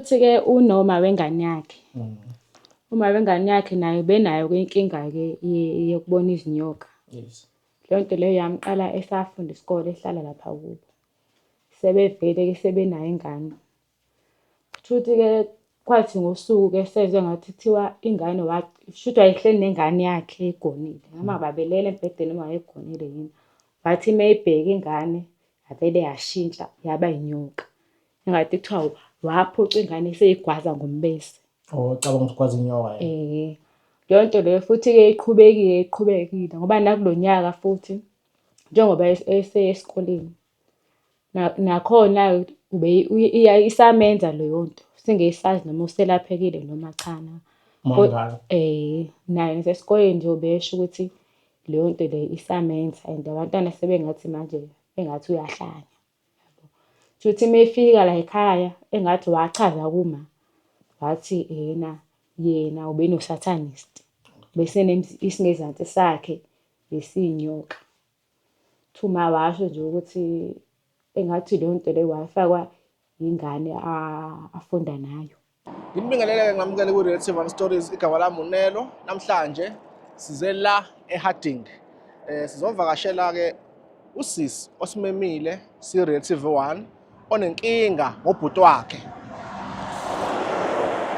Futhi-ke unoma wengane yakhe mm. uma wengane yakhe nayo benayo inkinga-ke yokubona izinyoka yes. leyo nto leyo yamqala esafunda isikole ehlala lapha kubo sebevele-ke sebenayo ingane kusho ukuthi-ke kwathi ngosuku-ke sezwe ngathi kuthiwa ingane shuthi wayehleli nengane yakhe egonile noma mm. babelele embhedeni uma wayegonile yini wathi uma ibheke ingane yavele yashintsha yaba inyoka Ngathi kuthiwa waphuca ingane iseyigwaza ngombese. Oh, cabanga ukuthi kwazi inyoka yena. Eh. Leyo nto leyo futhi-ke iqhubekile iqhubekile ngoba nakulo nyaka futhi njengoba es- eseye esikoleni na- nakhona ube uye- iya- isamenza leyo nto singesazi noma uselaphekile noma cha na. Uma Ko- mdala. Eh, naye nasesikoleni nje ubesho ukuthi leyo nto leyo isamenza and abantwana sebengathi manje engathi uyahlanya. Shuthi mefika layikhaya engathi wachaza kuma wathi ena yena ubenoSatanist, bese isingezansi sakhe besiyinyoka. Uthi uma washo nje ukuthi engathi leyonto leyo wayifakwa ingane afunda nayo. Ngibingelele-ke ngamukele kwi-relative and stories igama lami unelo namhlanje size la eharding um eh, sizovakashela-ke usisi osimemile si-relative one onenkinga ngobhuti wakhe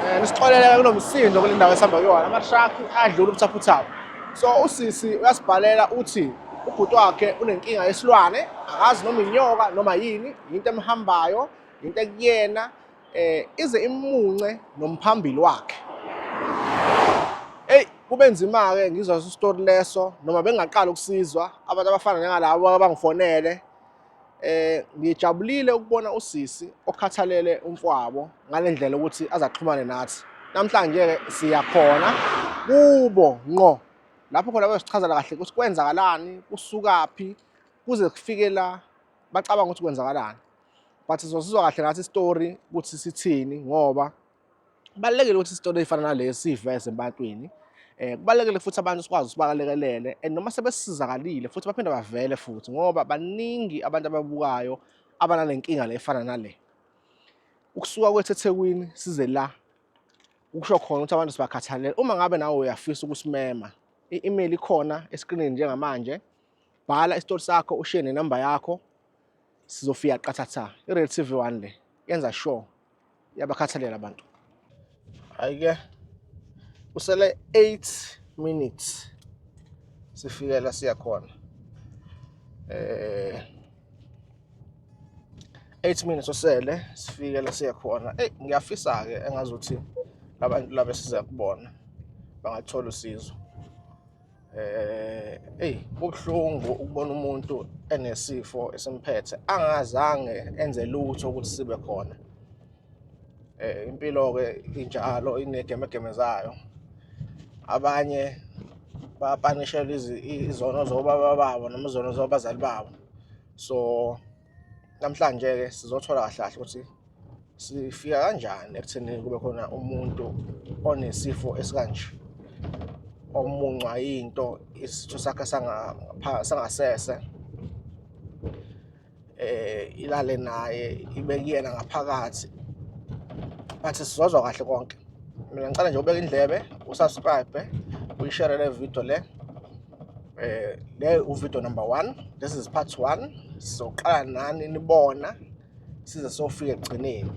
um nisixoleleke kulo msindo kule ndawo esihamba kuyona amatraki adlula ubuthaphuthaphu so usisi uyasibhalela uthi ubhuti wakhe unenkinga yesilwane akazi noma inyoka noma yini yinto emhambayo yinto ekuyena eh ize imunce nomphambili wakhe hey kube nzima ke ngizwa story leso noma bengaqala ukusizwa abantu abafana njengalabo abangifonele eh ngijabulile ukubona usisi okhathalele umfwabo ngalendlela ukuthi azaxhumane nathi namhlanje ke siyakhona kubo ngqo lapho khona bayosichazela kahle ukuthi kwenzakalani kusukaphi kuze kufike la bacabanga ukuthi kwenzakalani but sizosizwa kahle ngathi story ukuthi sithini ngoba kubalekile ukuthi story efana nalesi siveze empatwini eh kubalekile futhi abantu sikwazi usibalekelele and noma sebesizakalile futhi baphinde bavele futhi ngoba baningi abantu ababukayo abananenkinga le efana nale ukusuka kwethu eThekwini size la ukusho khona ukuthi abantu sibakhathalele uma ngabe nawe uyafisa ukusimema i-email ikhona eskrinini njengamanje bhala isitori sakho ushiye nenamba yakho Sizofika qathatha. I-Red TV 1 le yenza show yabakhathalela abantu. Ayike. Usele 8 minutes. Sifike la siya khona. Eh 8 minutes osele sifike la siya khona. Ey ngiyafisa ke engazuthi labantu laba siza kubona bangathola usizo. eh hey kubuhlungu ukubona umuntu enesifo esimphethe angazange enze lutho ukuthi sibe khona eh impilo ke injalo inegemegeme zayo abanye bapanishelwa izono zobaba babo noma izono zobazali babo so namhlanje ke sizothola kahle kahle ukuthi sifika kanjani ekutheni kube khona umuntu onesifo esikanje omuncwa yinto isitho sakhe sangasese eh ilale naye ibekuyena ngaphakathi bathi sizozwa kahle konke mina ngicela nje ubeke indlebe usubscribe uyishare le video le eh le uvideo number 1 this is part 1 sizoqala nani nibona size sofika ekugcineni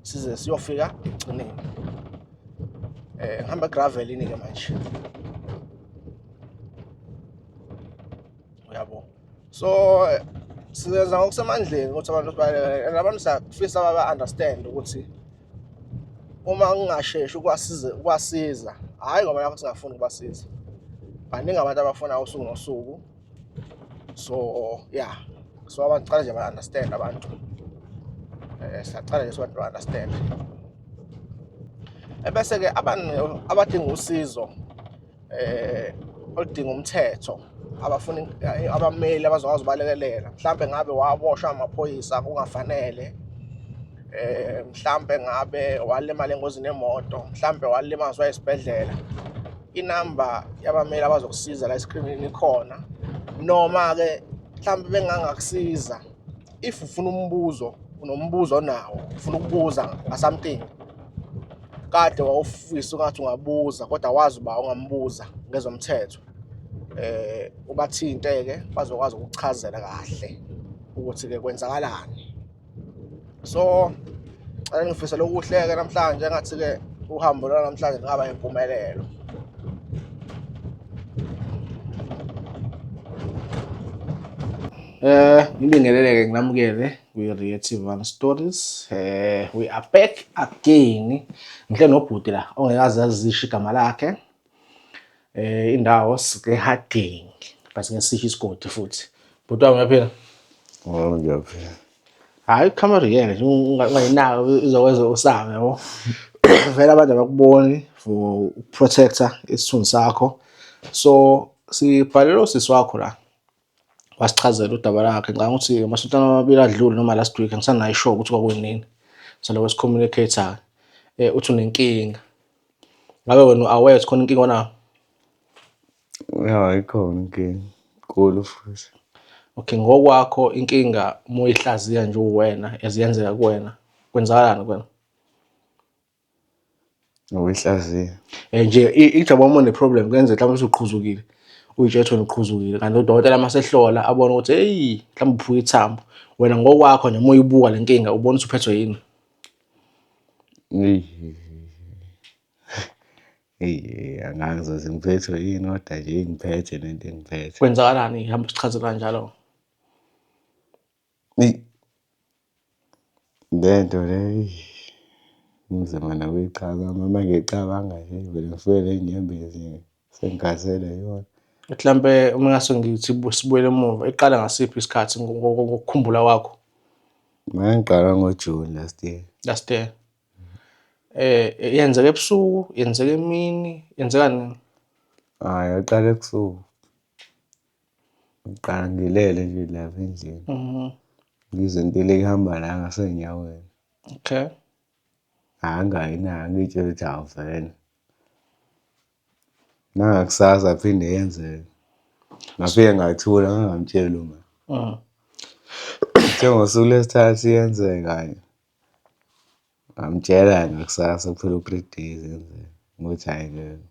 size siyofika ekugcineni eh ngihamba gravel ini ke manje so sizenza ngokusemandleni ukuthi abantu sibalekele and abantu siyafisa baba-understand ukuthi uma kungasheshi ukwasiza ukwasiza hhayi ngoba nakho singafuni ukubasiza baningi abantu abafuna usuku nosuku so yeah so abantu cala nje ba-understand abantu um siyacala nje sibantu ba-understand ebese-ke abantu abadinga usizo eh oludinga umthetho abafuna abameli abazokwazi ubalekelela mhlambe ngabe waboshwa amaphoyisa kungafanele eh mhlambe ngabe walimala engozini yemoto mhlambe walimazwa esibhedlela inamba yabameli abazokusiza la esikhrimini ikhona noma ke mhlambe bengangakusiza if ufuna umbuzo unombuzo onawo ufuna ukubuza ngasomething kade wawufisa ungathi ungabuza kodwa wazi uba ungambuza ngezomthetho eh ubathinte-ke bazokwazi ukuchazela kahle ukuthi-ke kwenzakalani so cela ngifisela okuhle-ke namhlanje ngathi-ke uhambo lona namhlanje lingaba impumelelo Eh ngibingeleleke nginamukele kwi-Rio TV One Stories. Eh we are back again. Ngihle nobhuti la ongekaze azisho igama lakhe. Eh indawo sike haging. Base ngesisho isigodi futhi. Bhuti wami uyaphila? Oh ngiyaphila. Hayi camera yena ungayinaka izokwenza usaba yabo. Vele abantu abakuboni for protector isithunzi sakho. So sibhalelo sisi wakho la. wasichazela udaba lakhe ngicabanga ukuthi amasonto amabili adlule noma last week angisanayo ishow ukuthi kwakunini so lokho sikhomunikhethayo um eh, uthi unenkinga ngabe wena u-aware ukuthi khona inkinga onayo ya ikhona inkinga nkulu futhi okay ngokwakho inkinga uma uyihlaziya nje uwena eziyenzeka kuwena kwenzakalani kuwena Nokuyihlaziya. And nje ijwabu uma une-problem kuyenzeka mhlawumbe usuqhuzukile uyitshela ukuthi wena uqhuzukile kanti udokotela uma sehlola abone ukuthi eyi mhlawumbe uphuke ithambo wena ngokwakho nje uma uyibuka le nkinga ubona ukuthi uphethwe yini eyi angazi ukuthi ngiphethwe yini kodwa nje ingiphethe nento engiphethe kwenzakalani hamba sichazela njalo Eyi, le nto le eyi kunzima nokuyicabanga uma mangicabanga nje ngivele ngifike ney'nyembezi nje sengikhathele yona. Mhlampe uma ngase ngithi sibuyele emuva iqala ngasiphi isikhathi ngokukhumbula kwakho? Mangiqala ngoJune last year. Last year. Eh yenzeka ebusuku, yenzeka emini, yenzeka nini? Hhayi, yaqala ebusuku. Ngiqala ngilele nje lapha endlini. Mhm. Ngizwe impilo ihamba la ngasenyaweni. Okay. Angayi na ngitshela ukuthi hawu vele. Nangakusasa phinde yenzeke. Ngafike ngathula ngangamtsheli uma. Mhm. Kuthe ngosuku lesithathu iyenzeka nje. Ngamtshela ngakusasa kuphela u-three days enzeni, ukuthi hhayi ngeke,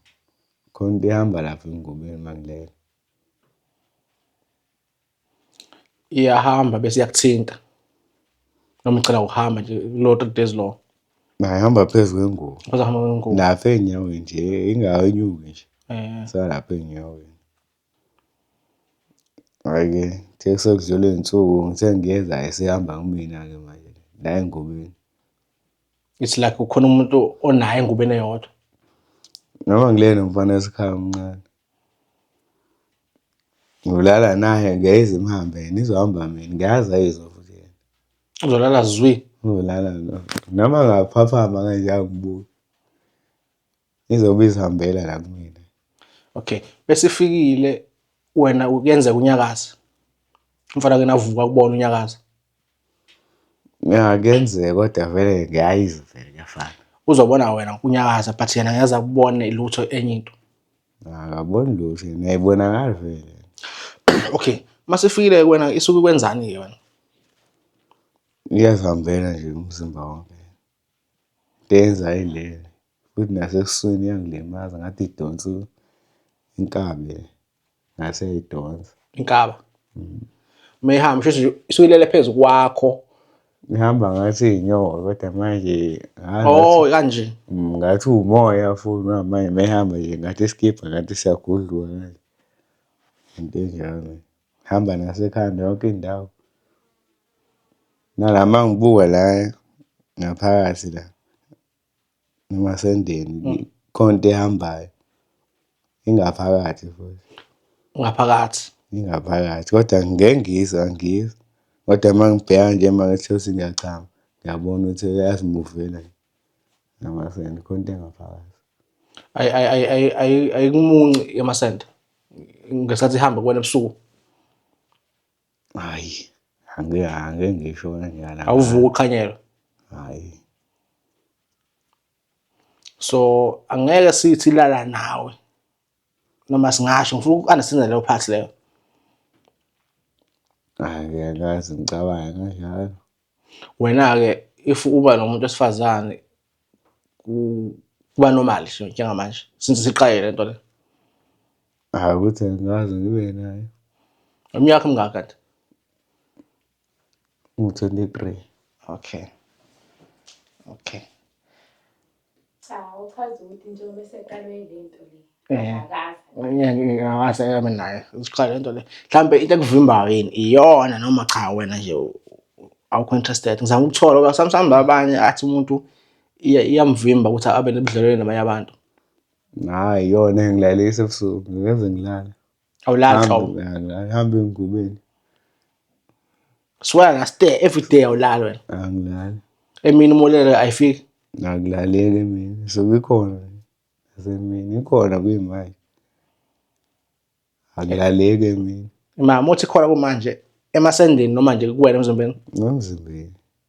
khona into ehamba lapha emngomeni uma ngilele. Iyahamba bese iyakuthinta noma icela ukuhamba nje kulowo three days lowo. Nayo ihamba phezu kwengubo. Kuzohamba kwengubo. Lapha ey'nyaweni nje, ingayenyuki nje. Isalapha ey'nyaweni. Hhayi-ke kuthe sekudlula iy'nsuku ngithe ngiyeza esehamba kumina-ke manje la engubeni. It's like kukhona umuntu onaye engubeni eyodwa? Noma ngilele nomfana wesikhawu omncane. Ngiyolala naye ngiyayizwa imihamba yena izohamba mina ngiyazi ayizwa futhi yena. Uzolala zwi? Uzolala noma ngaphaphama kanje angibuki. Izobe izihambela la kumina. Okay. Besifikile wena kuyenzeka unyakaze. Umfana kena avuka kubona unyakaze. Ya kuyenzeka kodwa vele ngiyayizwa vele kuyafana. Uzobona wena unyakaza but yena ngeza kubone lutho enye into. Akaboni lutho, niyayibonakala vele. Okay. Masifikile wena isuke kwenzani ke wena? Iyazihambela nje umzimba wonke. Teza ayilele futhi nasebusweni iyangilimaza ngathi idonsa inkabi ngase idonsa. Inkaba. Mm. Uma ihamba shuthi isuke ilele phezu kwakho. Ihamba ngathi inyoka kodwa manje Oh kanje. Mm, ngathi umoya futhi manje mehamba nje ngathi isikibha ngathi siyagudluka manje. Into enjalo. Hamba nasekhanda yonke indawo. Nala uma ngibuka la ngaphakathi la emasendeni mm. khona into ehambayo ingaphakathi futhi ngaphakathi ingaphakathi kodwa ngeke ngizwa ngizwa kodwa uma ngibheka nje uma ngithosi ngiyachama ngiyabona ukuthi uyazimuvela namasende khona into engaphakathi ayimunci yamasende ngesikhathi ihamba kubona ebusuku Hhayi, angeke angeke ngisho kanjalo. Awuvuki uqhanyelwe? Hhayi. So angeke sithi lala nawe noma singasho ngifuna uku-understanda leyo part leyo. Hhayi ngiyakazi ngicabanga kanjalo. Wena-ke if uba nomuntu wesifazane kuba normal nje njengamanje since siqaye lento le. Hayi ukuthi angikaze ngibe naye. Umyakho mngaka kanti? Ngu-23. Okay. Okay. Cha uchaza ukuthi njengoba eseqalwe yile nto le. Eh. Ngase yami naye usiqala lento le. Mhlambe into ekuvimbayo yini iyona noma cha wena nje awukho interested. Ngizama ukuthola ngoba sometimes abanye athi umuntu iyamvimba ukuthi abe nebudlelwane nabanye abantu. Hayi yona engilalisa ebusuku ngeke ngilale. awulatha angihambe engubeni swear ngaste every day awulali wena angilali emini umolele ayifiki akulaleki emini so kukhona nasemini ikhona kuyimanje akulaleki emini mama uthi khona kumanje emasendeni noma nje kuwena emzimbeni nomzimbeni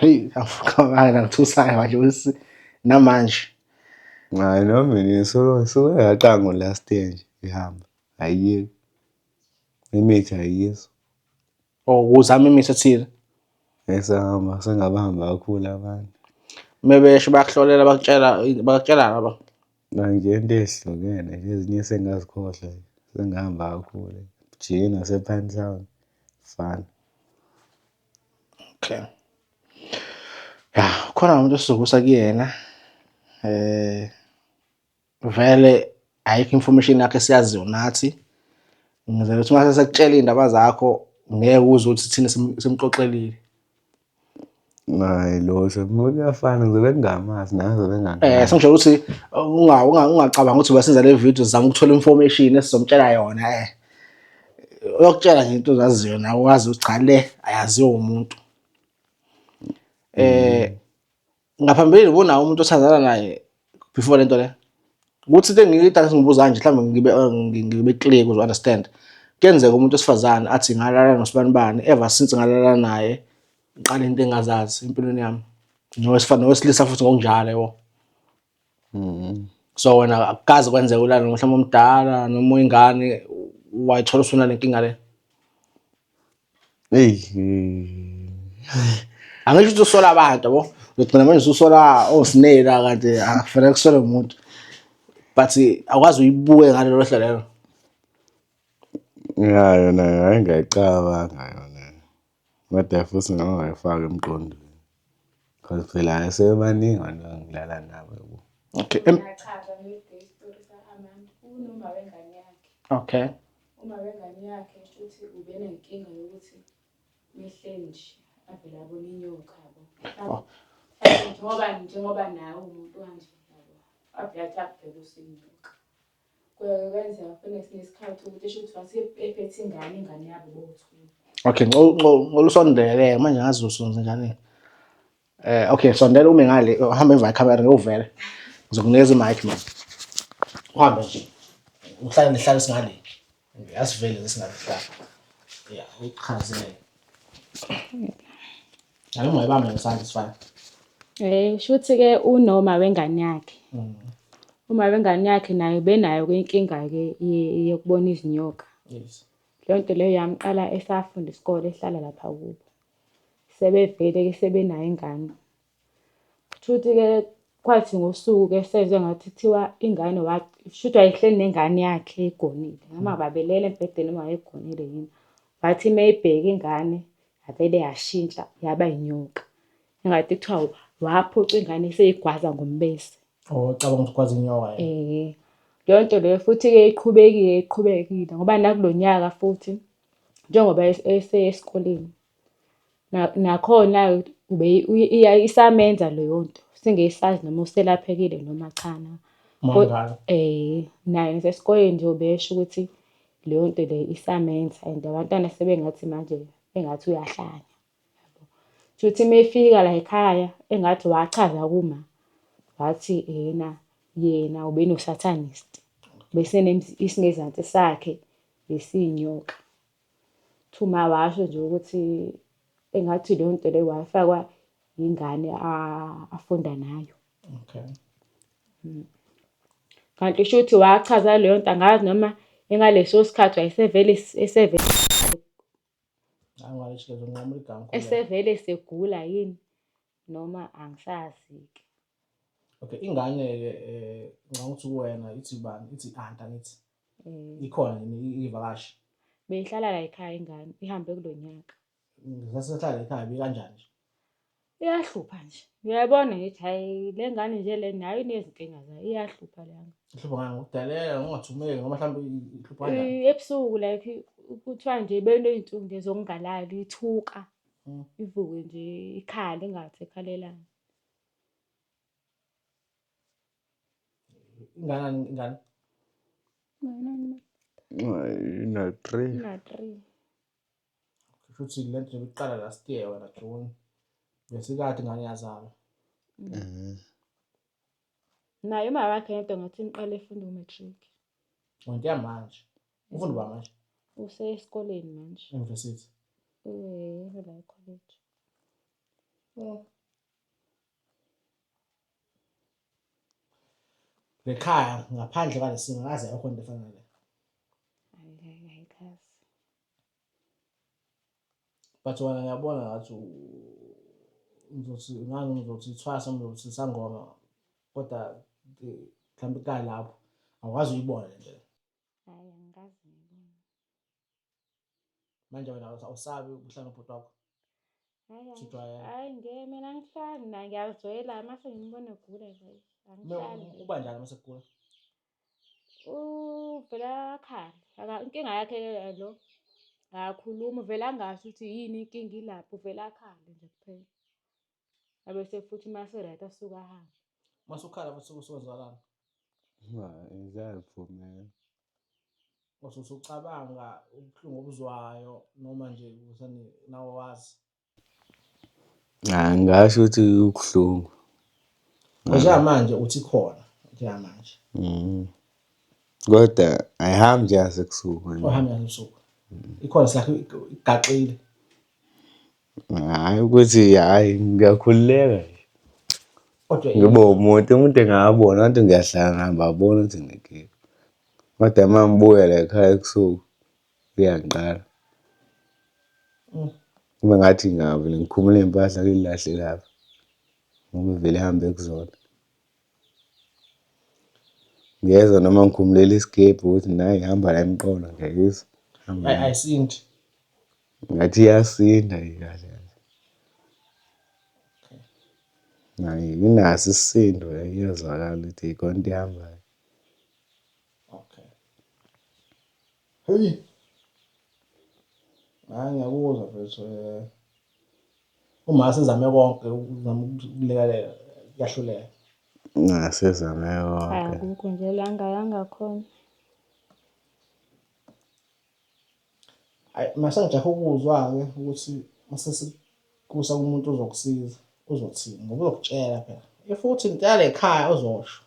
Hey, awukhona ngithusayo manje usi namanje. Hayi no mina ngisuke ngisuke ngaqanga last year nje ngihamba. Ayiyeki. Imithi ayiyizwa. Or oh, uzama imithi ethile. Esahamba sengabahamba kakhulu abantu. Mebesho bakuhlolela bakutshela bakutshela ngaba. Manje into ezihlukene ezinye sengazikhohlwa sengihamba kakhulu. Jina sephansi fana. Okay. Ya, khona umuntu esizokusa kuyena eh vele ayikho information yakhe siyaziyo nathi ngizela ukuthi mase sekutshela indaba zakho ngeke uze ukuthi thina simxoxelile Hayi lo sekuyafana ngizobe ngingamazi nawe ngizobe ngingamazi. Eh sengisho ukuthi unga ungacabanga ukuthi wasenza le video zama ukuthola information esizompshela yona eh. uyokutshela nje into ozaziyo nawe wazi ukuthi cha le ayaziwa umuntu eh ngaphambilini ubonawo umuntu othandana naye before lento le ukuthi into engiyidakisa ngibuza kanje mhlawumbe ngibe eh, ngibe clear kuzo understand kuyenzeka umuntu osifazane athi ngalala nosibani bani ever since ngalala naye ngiqale into engazazi empilweni yami nowesilisa futhi ngokunjalo yebo So wena akukaze kwenzeka ulale mhlawumbe omdala noma uyingane wayithola usuna lenkinga le. Hey. Angisho ukuthi usola abantu yabo. Ngigcina manje usola osinela oh, kanti akufanele ah, kusole umuntu. But akwazi uyibuke ngalelo hlo lelo. Yeah, yona hayi ngayicabanga yona. Kodwa futhi ngake ngayifaka emqondweni cause phela asebaningi abantu engidlala nabo yabo. Okay. Em Ngiyachaza mina ukuthi isitori saka-Amanda. Unoma wengane yakhe. Okay. Uma wengane yakhe shuthi ubenenkinga yokuthi mehle nje avele abone inyoka yabo. Oh. Njengoba njengoba nawe umuntu kanje yabo. Avele athi akubheke usinyoka. Kuyoke kwenzeka kufike ngesinye isikhathi ukuthi esho ukuthi wase ephethe ingane ingane yabo bowu-two. Okay, nco- nco- ngicela usondeleke manje ngazi uzosonza njani. Eh okay, sondela ume ngale, uhamba emva camera ngiyovela. Ngizokunikeza i-mic mina. Uhambe nje. Uhlale nihlale singale. Yasivele ngesingakuhlala. Ya, uyichazele. Hayi ungayibambe ngesandla isifana. Eh shuthi ke unoma wengane yakhe. Mm. Uma wengane yakhe naye benayo ke inkinga ke yokubona izinyoka. Yes. Leyo nto leyo yamqala esafunda isikole ehlala lapha kubo. Sebevele ke sebenayo ingane. Shuthi-ke kwathi ngosuku-ke sezwe ngathi kuthiwa ingane shuthi wayehleli nengane yakhe eyigonile, noma babelele embhedeni noma wayegonile yini. Wathi uma eyibheka ingane yavele yashintsha yaba inyoka. Engathi kuthiwa waphuca ingane eseyigwaza ngombese. Oh, cabanga ukuthi kwazi inyoka yena. Eh. Leyo nto leyo futhi-ke iqhubekile iqhubekile ngoba nakulo nyaka futhi njengoba esesikoleni Nakhona isamenza leyo nto, singesazi noma uselaphekile noma cha na. Naye nasesikoleni nje ubesho ukuthi leyo nto leyo isamenza and abantwana sebengathi manje engathi uyahlanya. Shuthi uma efika layikhaya engathi wachaza kuma wathi ena yena ubenosathanisti, bese isingezansi sakhe besinyoka. Thuma washo nje ukuthi engathi leyo nto leyo wayifakwa yingane afunda nayo. Okay. Mm. Kanti shuthi wachaza leyo nto angazi noma engaleso sikhathi wayesevele esevele esevele segula yini noma angisazi-ke. Okay, ingane-ke eh ngicabanga ukuthi kuwena ithi ubani? Ithi i-aunt angithi? Eh, Ikhona yini ivakashi? beyihlala la ekhaya ingane, ihambe kulo nyaka. Ngisasehlala ekhaya bekanjani nje? Iyahlupha nje. Uyayibona ngithi hayi le ngane nje le nayo inezinkinga zayo, iyahlupha le ngane. Ihlupha ngani ngokudelela ngokungathumeki noma mhlawumbe i- ihlupha kanjani? Eh, Ebusuku like kuthiwa nje beney'nsuku nje zokungalali, ithuka. Mm. Ivuke nje ikhale ingathi ekhalelani. Ingana ingana. Na three. Na three. Futhi le nto yokuqala last year wena June. Ngesikhathi ngane yazalwa. Mhm. Naye uma wakhe yedwa ngathi niqale efunda u-matric. Ngiya manje. Ufunda ba manje? Usesikoleni manje. University. Eh, la college. Oh. ngekhaya ngaphandle kwalesimo ngaze yakho into efana nale but wena ngiyabona ngathi ngizothi ngani ngizothi ithwasa ngizothi sangoma kodwa mhlawumbe ikalapho awukwazi uyibone nje manje wena awusabi ukuhlala nobhuti wakho hayi nge mina angihlali na ngiyazwela mase ngimbona egula nje angihlali uba njani mase kugula uvela akhale inkinga yakhe lo akakhulumi uvela angasho ukuthi yini inkinga ilapho uvela akhale nje kuphela abese futhi uma seright asuke ahambe uma sukhala futhi usuzwakala ngizayivumela wase usucabanga ubuhlungu obuzwayo noma nje usani nawe wazi ngasho ukuthi ubuhlungu njengamanje uthi khona njengamanje mm. kodwa ayihambi nje yasebusuku ahambi yasebusuku ikhona sakhe igaxile Hhayi ukuthi hhayi ngiyakhululeka nje. Kodwa Ngibe umuntu, umuntu engabona ngathi ngiyahlala ngihamba abona ukuthi nginekinga. Kodwa uma ngibuya la ekhaya ebusuku kuyangiqala. Kube ngathi ngiyavele ngikhumule iy'mpahla ngilahle lapha ngoba uvele ahambe ekuzona. Ngiyeza noma ngikhumulele isigebhu ukuthi nayi ngihamba la emqolo ngiyayizwa. Hamba. Ay- ayisindi Ngathi iyasinda ikahle. Nayi inaso isisindo iyazwakala ukuthi ikhona into ihambayo. okay Heyi. Hayi ngiyakuzwa mfethu um uma sezame konke ukuzama ukulekelela kuyahluleka. Ngasezame konke. Akukho nje la ngayanga khona. Hayi mase ngijahe ukuzwa-ke ukuthi mase Kusa umuntu uzokusiza uzothini ngoba uzokutshela phela if uthi ngicela lekhaya uzosho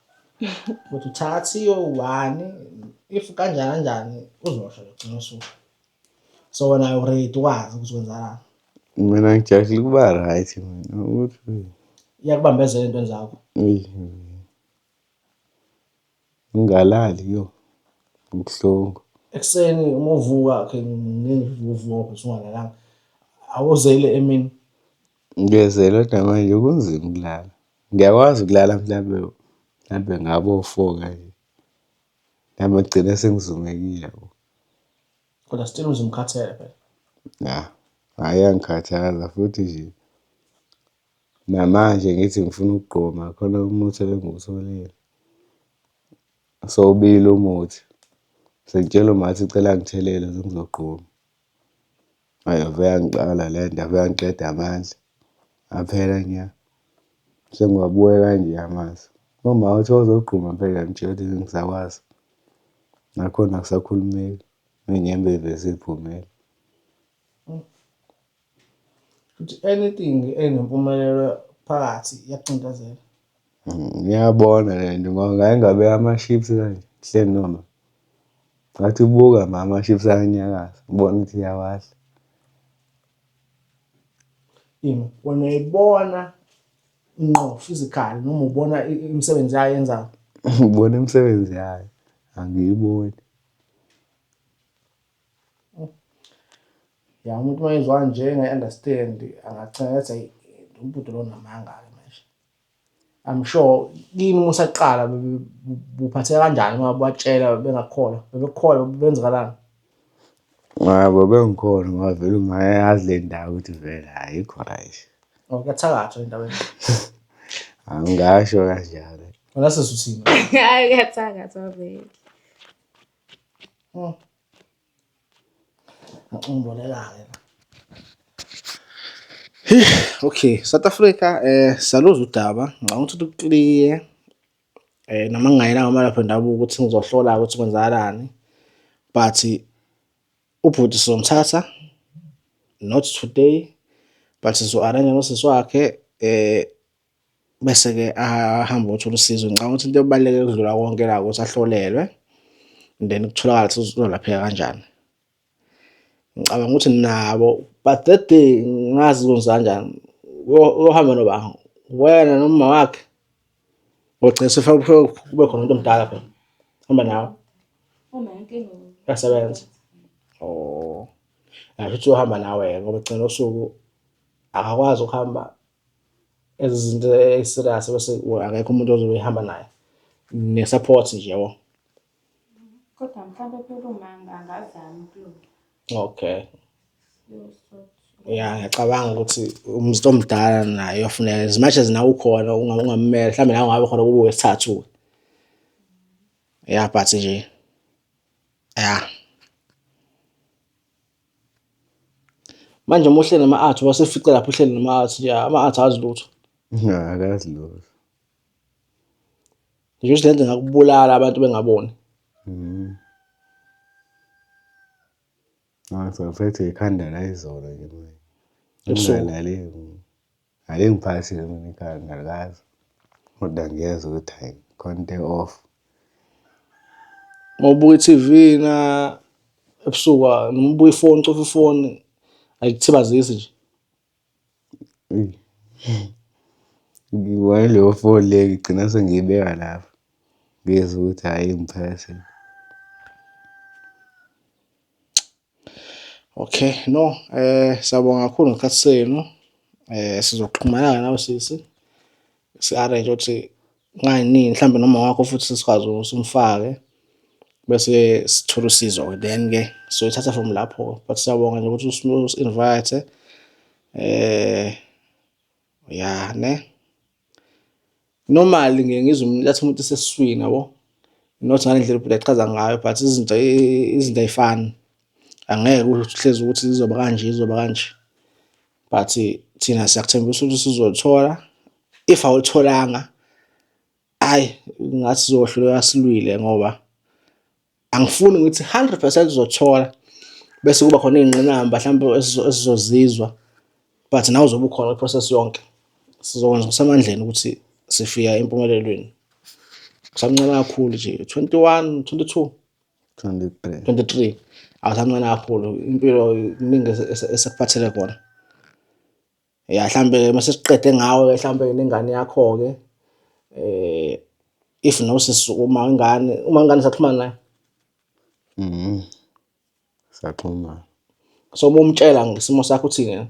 ukuthi uthathiwe ubani if kanjani kanjani uzosho logcina usuku so wena uready ukwazi ukuthi kwenzakalani mina ngijahile ukuba right mina ukuthi iyakubambezela entweni zakho Eyi. Ngingalali yo ngibhlungu. Ekuseni uma uvuka ke ngivuvuka bese ungalalanga. Awuzele emini. Ngiyezela kodwa manje kunzima ukulala. Ngiyakwazi ukulala mhlambe mhlambe ngabo four kanje. Mhlambe ngigcine sengizumekile yabo. Kodwa still uzumkhathele phela. Ya, hhayi iyangikhathaza futhi nje. Namanje ngithi ngifuna ukugoma khona umuthi ebengiwutholile. Sewubila umuthi, sengitshela umah ukuthi cela angithelele ngize ngizogoma. Ayi ave yangixaka le nto, ave yangiqeda amandla aphela nya. Sengiwabuya kanje amasi. Umah uthi wawuzogoma phela ngitshela ukuthi angisakwazi, nakhona akusakhulumeki, ney'nyembezi sey'phumile. Futhi anything enempumelelo phakathi iyakucindezela. Mm, ngiyabona le nto ngoba ngaye ngabe ama-ships kanje kuhleli noma ngathi ubuka ma ama-ships ayanyakaza ubona ukuthi iyawadla Yini? Wena uyayibona ngqo physical noma ubona i- i- imisebenzi yayo yenzayo? ubona imisebenzi yayo angiyiboni Ya umuntu uma ezwa nje engayi-understand angacinga ngathi ayi umbhuti lo unamanga-ke manje. I'm sure kini uma usaqala buphatheka kanjani uma batshela bengakukholwa bebekukholwa benzikalani? Ngabo bengikholwa ngoba vele ungayazi le ndawo ukuthi vele ayikho right. Oh kuyathakathwa endaweni. Angasho kanjalo. Wena sisuthini? Hayi kuyathakathwa vele. Ngicungulelake. Okay, South Africa eh saluza udaba ngicabanga ukuthi ukliye eh noma ngingayena ngamalapha ndabuka ukuthi ngizohlola ukuthi kwenzakalani but ubhuti sizomthatha not today but sizo-arrange nosisi wakhe eh bese-ke ahambe othola usizo ngicabanga ukuthi into ebaluleke ukudlula konke la ukuthi ahlolelwe then kutholakala ukuthi uzolapheka kanjani ngicabanga ukuthi nabo but that day ngazi kwenza kanjani uyohamba noba wena noma wakhe ogcina sefuna kube khona umuntu omdala phela hamba nawe yasebenza oh asho ukuthi uyohamba nawe ngoba gcina usuku akakwazi ukuhamba ezizinto eserious bese akekho umuntu ozobe ehamba naye ne-support nje yabo kodwa mhlawumbe phela uma angazami ukulunga okay ya ngiyacabanga ukuthi umzito omdala naye uyofuneka as much as nawe ukhona ungamumela mhlawumbe nawe ungabe khona kube wesithathu ya but nje ya Manje uma uhleli nama-art wasefica lapho uhleli nama-art nje ama-art azi lutho. Akazi lutho. Nje ukuthi lento ngakubulala abantu bengaboni. Mhm. Ngizophethe ikhanda la izolo nje manje. Ebusuku. Ngake ngiphakisile mina ikhaya ngiyalazi kodwa ngiyezwa ukuthi hhayi khona into e-off. Uma ubuka i-T_V na ebusuku noma ubuka ifoni ucofa ifoni ayikuthibazisi nje. Ngiyi-one leyo foni leyo ngigcina sengiyibeka lapho ngizwe ukuthi hhayi ingiphakasela . Okay, no siyabonga kakhulu ngesikhathi senu sizoxhumana nawe sisi si-arrange-e ukuthi kungani mhlawumbe noma wakho futhi sikwazi ukuthi umfake bese sithola usizo-ke then-ke soyithatha from lapho but siyabonga nje ukuthi usi-invayithe yah neh. Normal ngiye ngizwe umuntu athi umuntu usesiswini yabo, not ngale ndlela ubhuti achaza ngayo but izinto izinto ayifani. Angeke uhlezi ukuthi zizoba kanje zizoba kanje, but thina siyakuthembisa ukuthi sizolithola. If awulitholanga, ayi ngathi sizohluleka silwile ngoba. angifuni ngithi 100 percent uzothola bese kuba khona iy'ngqinamba mhlawumbe esizozizwa but nawe uzobe ukhona i-process yonke sizokwenza kusemandleni ukuthi sifika empumelelweni kusamncane kakhulu nje 21 22 23 23 awusamncane kakhulu impilo kuningi esekuphathele kona ya mhlambe-ke uma sesiqede ngawe-ke mhlambe-ke nengane yakho-ke um if nosisi uma ingane uma ingane saxhumana nayo mhm saxhumana so uma umtshela ngesimo sakho uthini yena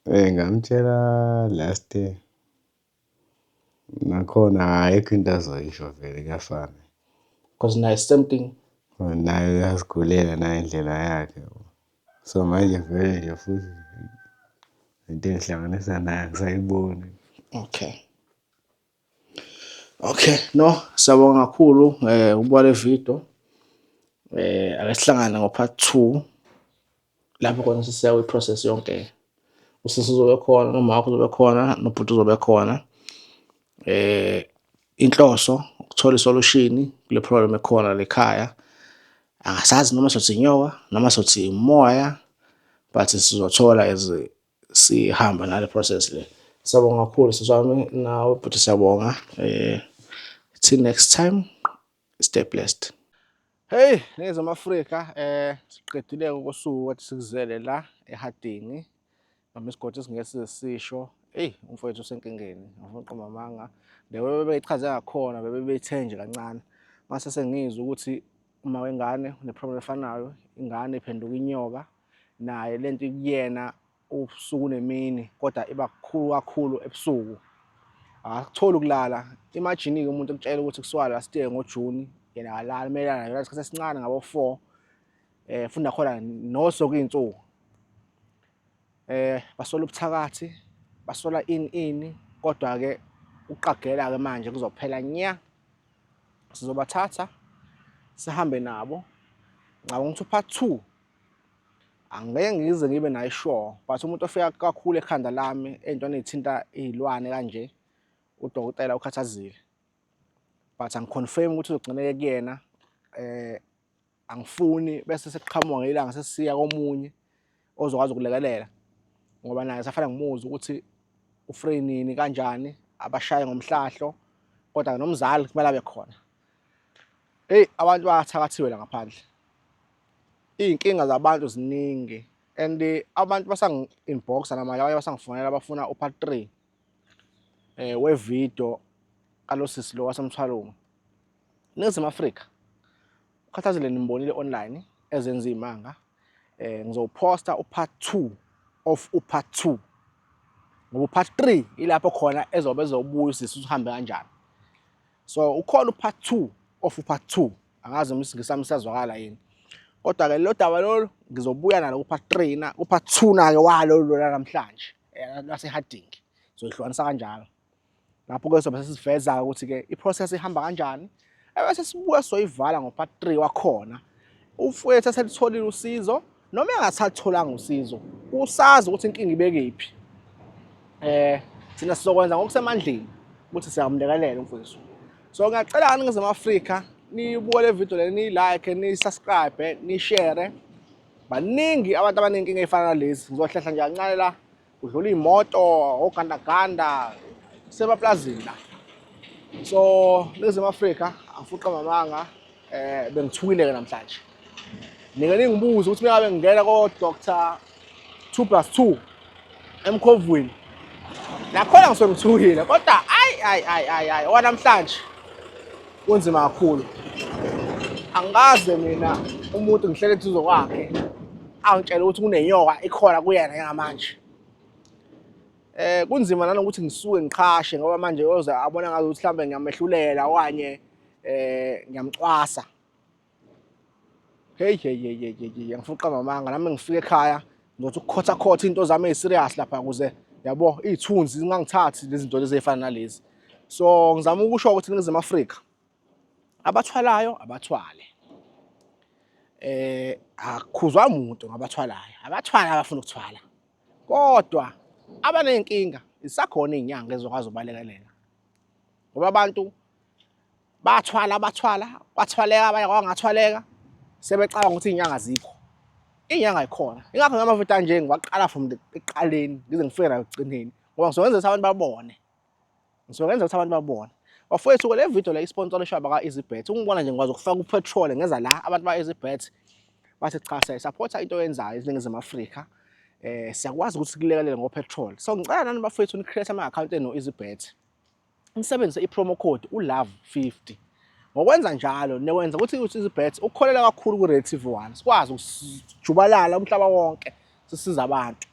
um ngamtshela last year Nakhona ayikho into azoyisho vele kuyafana. Cause naye same thing. Naye uyazigulela naye indlela yakhe. So manje vele nje futhi into engihlanganisa naye angisayiboni. Okay. Okay, no, siyabonga kakhulu eh ubuka le video. Eh ake sihlangane ngo part 2. lapho khona sisiya kwi-process yonke usisi uzobe khona nomama wakho uzobe khona nobhuti uzobe khona eh inhloso ukuthola isolution kule problem ekhona lekhaya angasazi noma sothi inyoka noma sothi umoya but sizothola as sihamba nale process le siyabonga kakhulu siswami nawe bhuti siyabonga eh till next time stay blessed Hey nezwe Afrika eh siqedile ukosuku wathi sikuzele la eHardingi noma isigodi singeke size sisho hey umfowethu usenkingeni ngifuna uqoma amanga lewe bebeyichaze ngakhona bebebeyithenje kancane mase sengizwe ukuthi uma wengane uneproblem efanayo ingane iphenduka inyoka naye lento ikuyena ubusuku nemini kodwa iba kukhulu kakhulu ebusuku akutholi ukulala imajini-ke umuntu ekutshela ukuthi kusuka last year ngojuni yena akalali kumele alale yona isikhathi esincane ngabo-four um futhi nakhona noso kuyinsuku um basola ubuthakathi basola ini ini kodwa-ke ukuqagela-ke manje kuzophela nya sizobathatha sihambe nabo ngicabanga ukuthi upart two angeke ngize ngibe nayo sure but umuntu ofika kakhulu ekhanda lami ey'ntweni ey'thinta iy'lwane kanje udokotela ukhathazile but angiconfirm ukuthi uzogcineke kuyena eh angifuni bese sekuqhamuka ngelanga sesiya komunye ozokwazi ukulekelela ngoba naye safana ngimuzwa ukuthi ufree nini kanjani abashaye ngomhlahlo kodwa nomzali kumele abe khona Hey abantu bayathakathiwela ngaphandle. Izinkinga zabantu ziningi and eh, abantu basangi inbox namanje abanye basangifonela bafuna u part 3 eh we video kalosisi lo wasemthwalungu. Nizim Africa. Ukhathazile nimbonile online ezenza imanga. Eh ngizowuposta u part 2 of u part 2 ngoba part 3 ilapho khona ezobe ezobuya usisi uhambe kanjani so ukhona upart two of upart two angazi noma isingisi sami siyazwakala yini kodwa-ke lelo daba lolu ngizobuya nalo kupart three na kupart two na-ke walo lona namhlanje eh, lwaseharding soyihlukanisa kanjalo lapho-ke sobe sesiveza-ke ukuthi-ke i-process ihamba kanjani ebese sibuya soyivala ngo-part three wakhona ufuethu eselitholile usizo Noma engasatholanga usizo, usazi ukuthi inkinga ibekephi. Eh, thina sizokwenza ngokusemandleni ukuthi siyamlekelela umfowethu. So ngiyacela kani ngize Afrika nibuke le video le ni like ni subscribe ni share. Baningi abantu abanenkinga efana nalezi. Ngizohlehla nje kancane la Kudlula iy'moto, ogandaganda, kusemaplazini la. So, Ningizimu Afrika, angifuqa mamanga, eh bengithukile-ke namhlanje. Nike ningibuze ukuthi mengabe ngingena ko-Doctor 2 plus 2 emkhovweni. Nakhona ngisuke ngithukile, kodwa ayi, ayi, ayi, ayi, ayi, owanamhlanje kunzima kakhulu. Angikaze mina umuntu ngihlele eduze kwakhe. angitshela ukuthi kunenyoka ikhona kuyena njengamanje eh kunzima nanokuthi ngisuke ngiqhashe ngoba manje yoze abona ngazi ukuthi mhlambe ngiyamehlulela okanye eh ngiyamcwasa hey hey hey hey hey ngifuqa mamanga nami ngifike ekhaya ngizothi ukukhotha khotha into zami eziserious lapha kuze yabo izithunzi zingangithathi lezi zinto lezi ezifana nalezi so ngizama ukusho ukuthi ngize eAfrika abathwalayo abathwale eh akukhuzwa umuntu ngabathwalayo abathwala abafuna ukuthwala kodwa abanenkinga isakhona izinyanga ezokwazi ubalekelela ngoba abantu bathwala bathwala kwathwaleka abanye kwangathwaleka sebecabanga ukuthi izinyanga zikho inyanga ikhona ingakho ngamavuta nje ngiwaqala from eqaleni ngize ngifike la ekugcineni ngoba ngizokwenza ukuthi abantu babone Ngizokwenza ukuthi abantu babone. Bafowethu le video le isponsor leshwa baka EasyBet. Ungibona nje ngikwazi ukufaka upetrol ngeza la abantu ba EasyBet bathi cha siya support into oyenzayo iziningizimu Afrika. Eh siyakwazi ukuthi kulekelele ngopetrol. So ngicela nani bafowethu ni create ama account eno EasyBet. Nisebenzise i promo code ulove 50. Ngokwenza njalo nekwenza ukuthi uEasyBet ukukholela kakhulu ku Red TV 1. Sikwazi ukujubalala umhlaba wonke sisiza abantu.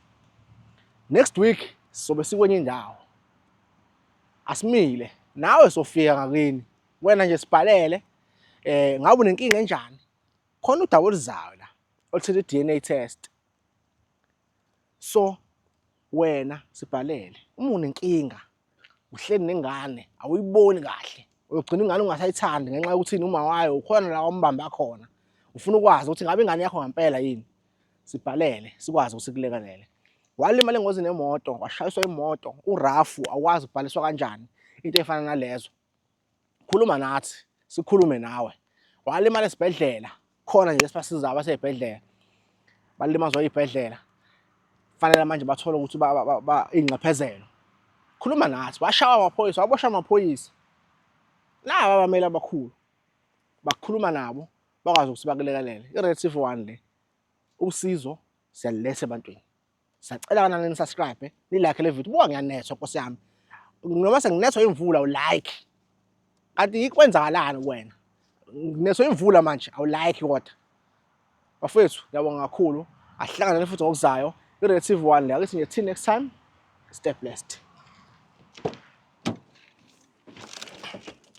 Next week sizobe sikwenye indawo. Asimile nawe sofika ngakini. Wena nje sibhalele eh ngabe unenkinga enjani? Khona udaba oluzayo la oluthethe DNA test. So wena sibhalele uma unenkinga uhleli nengane awuyiboni kahle uyogcina ingane ungasayithandi ngenxa yokuthi uma wayo ukhona la ombamba khona ufuna ukwazi ukuthi ngabe ingane yakho ngempela yini sibhalele sikwazi ukuthi kulekelele walimala engozini yemoto washayiswa imoto urafu awukwazi ukubhaliswa kanjani into efana nalezo khuluma nathi sikhulume nawe walimala esibhedlela khona nje esibasiza abaseyibhedlela balimazwa ibhedlela fanele manje bathole ukuthi ingxephezelo khuluma nathi washawa amaphoyisa wabosha amaphoyisa laba abamele abakhulu bakhuluma nabo bakwazi ukuthi bakulekelele i-red c one le usizo siyaluletha ebantwini Sacela kana ni subscribe, ni like le video. Buka ngiyanethwa nkosi yami. Noma senginethwa imvula u like. Kanti ikwenzakalani kuwena? Nginethwa imvula manje awu like kodwa. Bafethu ngiyabonga kakhulu. Asihlangane futhi ngokuzayo. I-relative one le. Ake sinye till next time. Stay blessed.